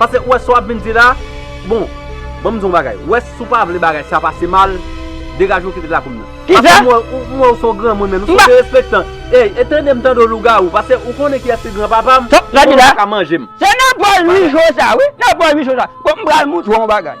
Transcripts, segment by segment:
Pase ou wè sa wap vin di la, bon, banm di w yon bagay, ou wè si w pa vle bagay sa pase mal, degaje w kite lakou m nan. Pase m wè ou, m wè ou se yon granmoun menm, ou se yon derespektan. Ey, e tande m tande w lougawou, pase ou konnen kiyès ki gran papa m, ou konnen w pa ka manje m. Se nan bòl Louis José a wi, nan bòl Louis José a. Bon m pral montre w yon bagay.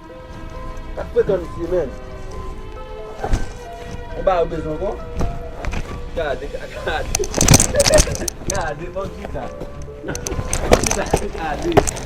Sak fre tann vye menn. Ou ba yo bezwen kon. Gade kaka. Gade bon ki sa. Gade.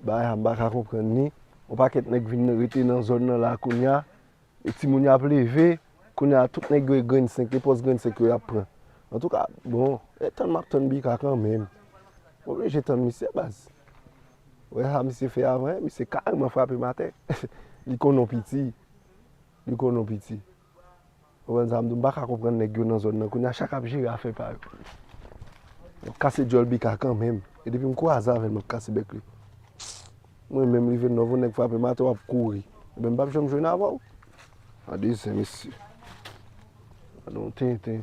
Bagay sa m pa ka konprann li. Yon pakèt nèg vin rete nan zòn nan la kounya. E timoun yo ap leve. Kounya tout nèg yo e grenn 5, e pòs grenn 5 yo y ap pran. Antouka, bon, e tann m ap tann Bika kanmenm. M oblije tann misye baz. Ou wè sa misye fè avan e? Misye kareman frape m atè. Li konn ou piti. Li konn ou piti. Konprann sa m di w, m pa ka konprann nèg yo nan zòn nan kounye a, chak ap jere afè pa yo. Yo ap kase dyòl Bika kanmenm. E depi m kwaze avè l, m ap kase bèk li. Mwen menm, rive Nòf, on nèg frape m atè, w ap kouri. Enben, m p ap janm jwenn avè w. Gade zen mesye. Gade yon tenten.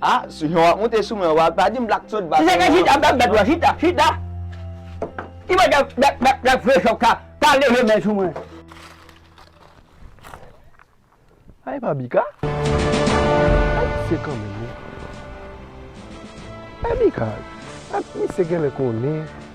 Ah souyon wap moute sou mwen wa pa dim black thot ba souyon. Ki sa ke chita black thot wa chita chita ki mwen black black black black vre chok ka pa leve men sou mwen. Sa epa bika? Sa ki se kan menm wi? Epi ka misye genlè konnen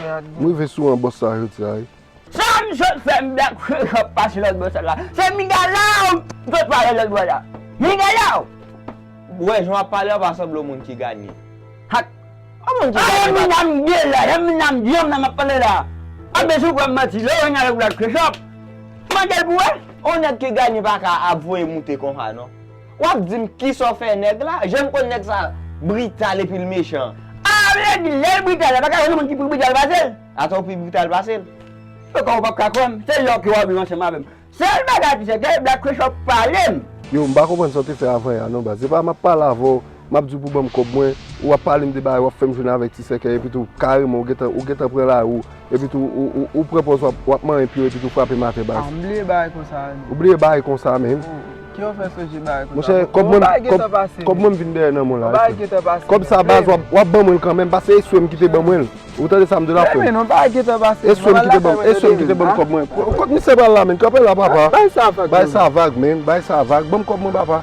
M rive sou an bòs sa jodi a wi. Sam sot fè m dak fè sa k pase lòt bò sèl la se migalaw m sot pale lòt bò la migalaw. Ou wè jan wap pale a pa sanble yon moun ki ganye. Hat. Yon moun ki ganye pa ta. Yon nèg ki ganye pa ka ap voye moute konsa non. Wap dim kisa w fè nèg la? Janm konn nèg sa brital epil mechan. Ah nèg lèl brital la paka jwenn yon moun ki pi brital pasel? Ata ou pi brital pasel? Ou kwè ou pap ka kwèm? Se lè w ke wap viv ansanm avèm. Sèl bagay ki sèten Black Christ wap palem. Yow m pa konprann sa w te fè avan ya non baz. Se pa map pale avè w. Map diw pou banm kòb mwen, ou wap palem de bagay wap fèm jwenn avèk ti sèkèy epitou kareman ou gentan ou gentan pran lari ou epitou ou pran pòz wap manyen pye w epitou w frapem atè baz. Ah m bliye bagay konsa a menn. Ou bliye bagay konsa a menn. Oh kijan w fè sonje bagay konsa. Monchè kòb mwen bagay gentan pase menn. Kòb mwen m vin dèyè nan mwen la. Bagay gentan pase menn. Kòb sa baz wap ban mwen l kanmenm paske e swem kite ban mwen l. Ou tande sa m diw la frè m. Menn bagay gentan pase menn. E swem kite banm e swem kite banm kòb mwen. Kot misye pral la menn kanpe la papa. Bay sa vag menn. Bay sa vag menn bay sa vag banm kòb mwen papa.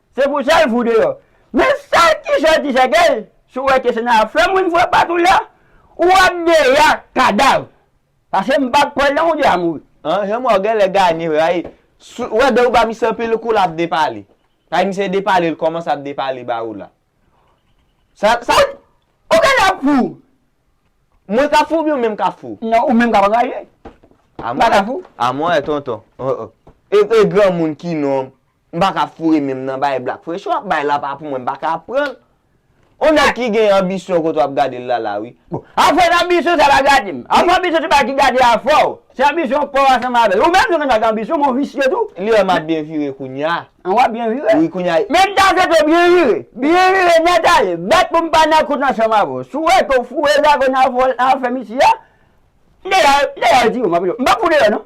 Se pou sèl vou deyò. Men sa ki sòti ti sègèy, si w wè ke se nan afè moun vre pat ou la, ou ap deyò ak kadav. Pase m pat kwè nan ou deyò a mouri. An, Jean Mort genlè gagné rayi. Ou wè dè ou ba misye anpil kou lap depale. Kay misye depale l kòmanse ap depale ba ou la. Sa, sa. Ou genlè ap fou. Mwen kap fou oubyen ou menm kap fou? Non, ou menm kap anraje. Mpa ka fou. A mwen wè tonton. E granmoun ki non. M pa ka foure menm nan bagay Black Pressure ap bay la pa pou mwen m pa ka ap pran l. On nèg ki gen anbisyon kote w ap gade l la la wi. Bon, afè anbisyon sa pa gade m. Afè anbisyon se bagay ki gade afè w. Se anbisyon paw a sanble avè l. Ou menm tou gen dwa gen anbisyon men w visye tou. Li wè m ap byen vire kounya. An w ap byen vire? Wi kounya. Men m ta swete w byen vire. Byen vire nèt ale. Bat pou m pa nan kout ansanm avè w. Si w wè ke w foure zago nan afè misye a, m deja di w, m ap foure w deyò non.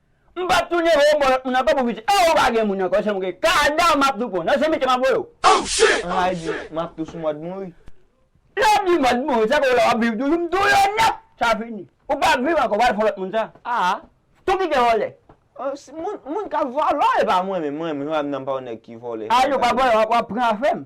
M pap tou neve yo bon lot moun anko pou piti oh pa gen moun anko se mwen gen kadav map tou pwan nan se mete map voye w. Anmyg map tou sou mòd mouri. Lè wap di mòd mouri sa fè wè wap viv toujou m tou yo nèt sa fini ou pap viv anko wal fon lot moun sa aa tou kite vòlè. Moun kap vòlò epa mwen menm mwen menm nan m pa yon nèg ki vòlè. Aayy ou pa vòlè wap pran afem.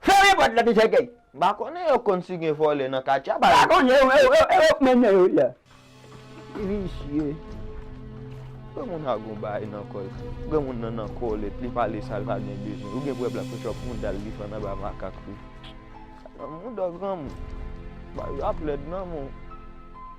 Fèmen pòt la ti sèkèy. M pa konnen yo konn si gen vòlè nan katye a ba yo. M pa konnen yo yo yo yo k mennen yo la. Ti visye. Granmoun sa gon bagay nan kòl. Granmoun nan nan kòlèt li pale sal pa gen bezwen. Ou gen pou wè black poch wap moudal li fann anba makak ou. Sa nan mouda granmoun. Bagay yo ap lèd nan men w.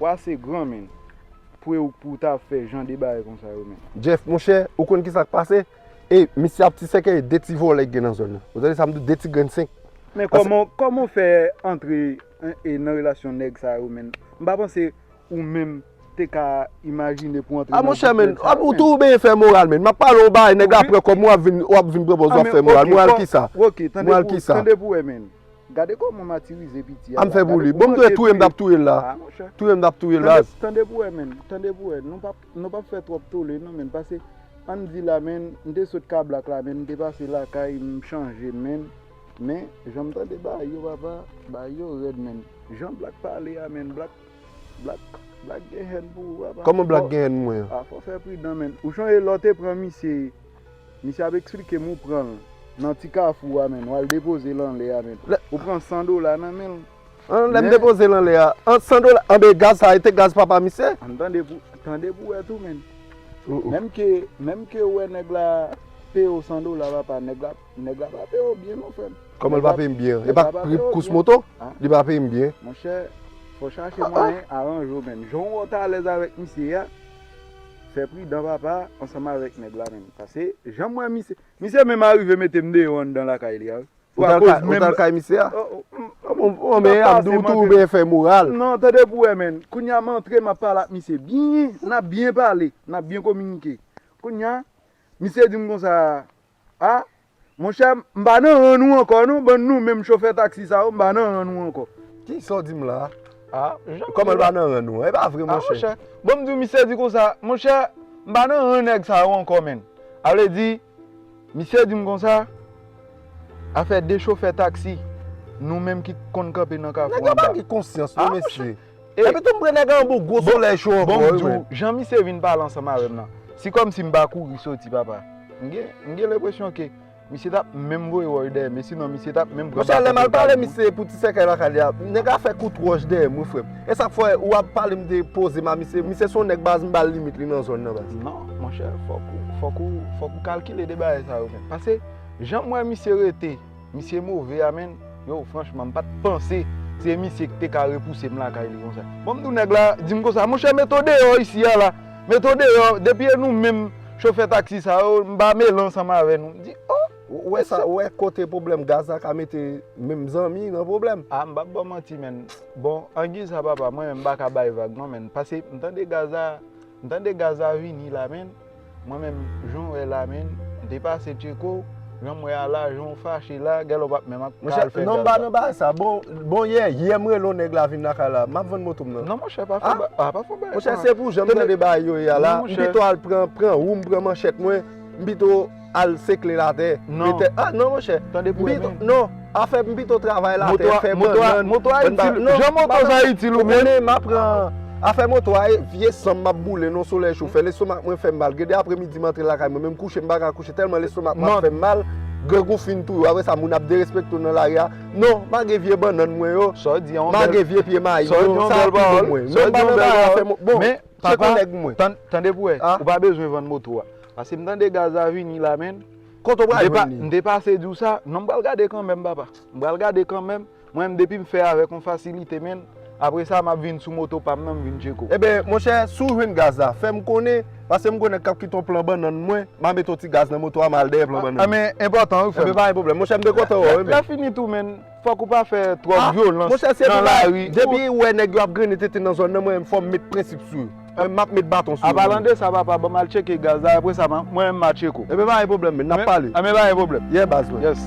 Ou ase gran menn pou e ou pou ta ap fè jan de bagay konsa yo menn. Jeff monchè ou konn kisa k pase e misye ap ti sèkèye 2 ti vòlè ki gen nan zòn nan ou tande sa m di 2 ti grenn 5. Men kòman kòman ou fè antre e nan relasyon nèg sa yo menn m pa panse ou menm te ka imajine pou antre nan gwoup nèg sa yo menn. A monchè menn ou toujou benyen fè moral menn m ap pale w yon bagay nèg la pran kòb mwen w ap vin w ap vin pran pòz w ap fè moral moral kisa moral kisa. Ok tande pou wè menn. Gade koman matirize piti a la. Ann fè pou li. Bon m t wè touye m t ap touye l la. Touye m t ap touye l la. Tande pou wè menn. Tande pou wè. Nou pap fè twòp tole non menn. Pase ann di la menn m te sot Kablak la menn m te pase lakay m chanje menn. Men jan m tande bagay yo papa. Bagay yo rèd menn. Jan Blak pale a menn. Blak Blak gen hèn pou ou papa. Kòman Blak gen hèn pou mwen. A fò w fè pridan menn. Ou chonje lè w te pran misye. Misye ap esplike m ou pranl nan ti kafou a menn wal depozel anlè a menn ou pran 100 dola nan menl an lèm depozel anlè a 100 dola anben gaz sa e te gaz papa misye? An tande pou tande pou wè tou menn menm ke menm ke ou wè nèg la peye w 100 dola papa nèg la nèg la pa peye w byen non frèm Kòman l pa peye m byen an e pa pri kous moto li pa peye m byen monchè fò chache mwayen aranje w menn jan w wè w t alèz avèk misye a Fè pridan papa ansanm avèk nèg la menm pase janm wè misye misye menm arive metem deyò anndan lakay li a wi. Ou t al ou t al kay misye a? Bon men Abdou ou tou ou byen fè moral. Non tande pou wè menn kounya m antre map pale ak misye byen nap byen pale nap byen kominike kounya misye dim konsa Ah monchè m pa nan ran nou ankò non bann nou menm chofè taxi sa yo m pa nan ran nou ankò. Kisa w di m la a? Kòman l pa nan ran nou an? E pa vre monchè. Bon m di w misye di konsa monchè m pa nan ran nèg sa yo ankò menn. A vle di misye di m konsa afè 2 chofè taxi nou menm ki konn kanpe nan kafou anba. Nèg yo pa gen konsyans non mesye. Epi tou m pre nèg an bon gwo solèy cho ankò wi men. Bon m di w jan misye vin pale ansanm avè m nan si kòmsi m pa kouri soti papa m gen lenpresyon ke misye tap menm voye wòch dèyè m e sinon misye tap menm pran baton pou l pale m. Mesye lè m al pale misye pou ti sèkèy lakay li a nèg a fè kout wòch dèyè m wi frè m e sa k fè ou ap pale m te poze m a misye misye se yon nèg baz m ba l limit li nan zòn nan baz. Non monchè fòk ou fòk ou kalkile de bagay sa yo men pase jan m wè misye rete. Misye move a menn, yow franchman m pat panse se misye ki te ka repouse m lakay li konsa. Bon m di w nèg la di m konsa, monchè met w deyò isi a la, met w deyò, depi e nou menm chofè taksi sa yo m pa mele ansanm avè nou. M di oh! Ou wè sa, ou wè kote pwoblèm gaz la ka mete menm zanmi nan pwoblèm. Ah m pap ba w manti menn, bon angi sa papa mwen menm m pa ka bay vag non menn, pase m tande gaz la. M tande gaz la vini la menn mwen menm jan wè la menn m te pase tcheko janm wè a la jan w fache la gèlè w pap menm ak al fè gaz la. Monchè non m pa nan bagay sa bon yè yè m rele w nèg la vin lakay la map vann moto m nan. Non monchè pa fè bagay pa fè bagay sa. Monchè se pou jan m tande bagay yo ye a la m pito al pran pran ou m pran manchèt mwen m pito. al sekle la tè. Non. Ah non monchè. Tande pou renmen. Non. Afè m pito travay la tè, fè bannann. Moto a itil. Jan moto sa itil ou menm. Ou konnen m apran. Afè moto a e vye san m m ap boule nan solèy chofè. Lestomak mwen fè m mal. Gen de apre midi m antre lakay mwen menm kouche m pa ka kouche tèlman lestomak mwen ap fè m mal. Grangou fin touye w. Apre sa moun ap derespekte w nan lari a. Non. Mage vye bannann mwen yo. Sa w di an. Mage vye pye mayi yo. Sa w di an bèl pawòl. Sa w di an bèl pawòl. Bon. Tann. Tande pou wè. Ou pa bezwen vann moto a. Paskem tande gaz a vini la menn. Kote ou pral jwenn li? M te pase diw sa, non m pral gade kanmenm papa. M pral gade kanmenm, mwen menm depim fè avèk yon fasilite menn, apresa map vin sou moto pam nan m vin tcheko. Eben monchè si w jwenn gaz la fèm konnen, paske m konnen kap kite yon plan bannann mwen, ma mete yon ti gaz nan moto a ma al dèyè plan bannann. Anben enpòtan wi frèm. Enben pa gen pwoblèm monchè m te kontan wè w wi menn. Lap fini tou menn. Fòk ou pa fè twòp vyolans nan lari. Depi ou wè nèg yo ap grennen tenten nan zòn nan mwen menm fòm met prensip sou yo. Map met baton sou yo. Apalan de sa papa banm al tcheke gaz la apre sa mwen menm ma tcheko. Ebyen pa gen pwoblèm men nap pale. Ebyen pa gen pwoblèm. Yeah baz mwen. Yes.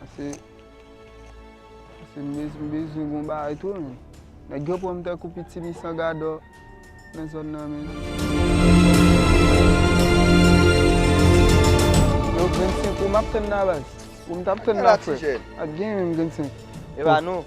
Pase Pase m bezw m bezwen gon bagay tou menn. Nèg yo pran m tankou pitimi san gadò nan zòn nan menn. Yo 25 pou m ap tann nan baz. Pou m t ap tann nan frè. Ap gen menm 25. Epa nou.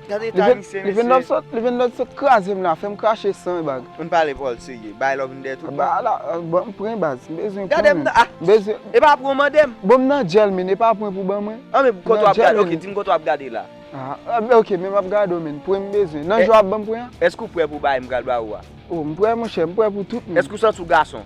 Gade eta ayisyen mesye. Li vin lòd sot kraze m la fè m krache san e bagy. Ann pale pòl serye. Bay love m dèt ou pa. Ala ban m pren baz. M bezwen pren. Gade m nan ah. Epa pran w mande m. Bon m nan djèl min epa pran pou ban mwen. An men pou kote w ap gade ok di m kote w ap gade la. Ah ok men m ap gade w men pran m bezwen. Nan je w ap ban m pran an. Èske ou prè pou bay m pral ba ou a. Oh m prè monchè m prè pou tout moun. Èske ou santi w gason.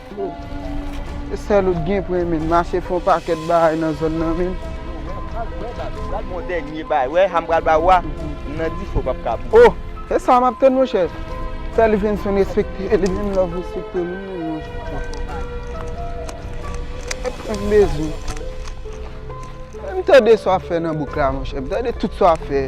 Se sèl ou t gen pou renmenl. Mache fon pakèt bagay nan zòn nan menn. Gad bon dènye bagay wè sa m pral ba ou a m nan dife ou pap ka bouyi. Oh se sa map tann monchè. Fè li vin sou respekte li menm lè w respekte li menm non. Mwen prank bezwen. Tande sa wap fè nan bouk la monchè. Tande tout sa wap fè.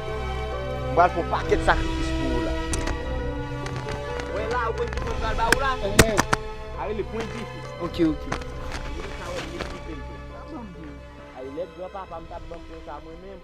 M pral fè yon pakèt sakrifis pou ou la. Wè la, ou konn ki mwen pral ba ou la? Enhen. A rele pwen dife. Ok, ok. Ou gen ka wè m met dife m tou. Sa ban m di ou? Ay lèd gran papa m tap ban m pwen sa mwen menm.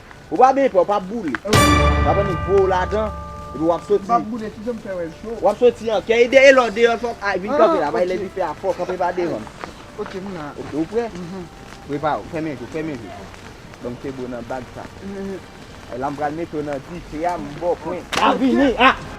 Ou pa byen pè, ou pa boule. Ou pa pran ni po ou ladan, epi wap soti. Mpa boule, kijan m fè wè l cho? Wap soti an kè, e dèyè lè w deyò l fòk, vin kanpe la, bay lè difè a fò, kanpe pa devan. Ok, m la. Ok, ou prè? Mh. Prepare w, fèmen je w, fèmen je w. Banm febo nan bag sa. Mh. La m pral mete w nan dife a, m ba w pwen. Map vini, ah!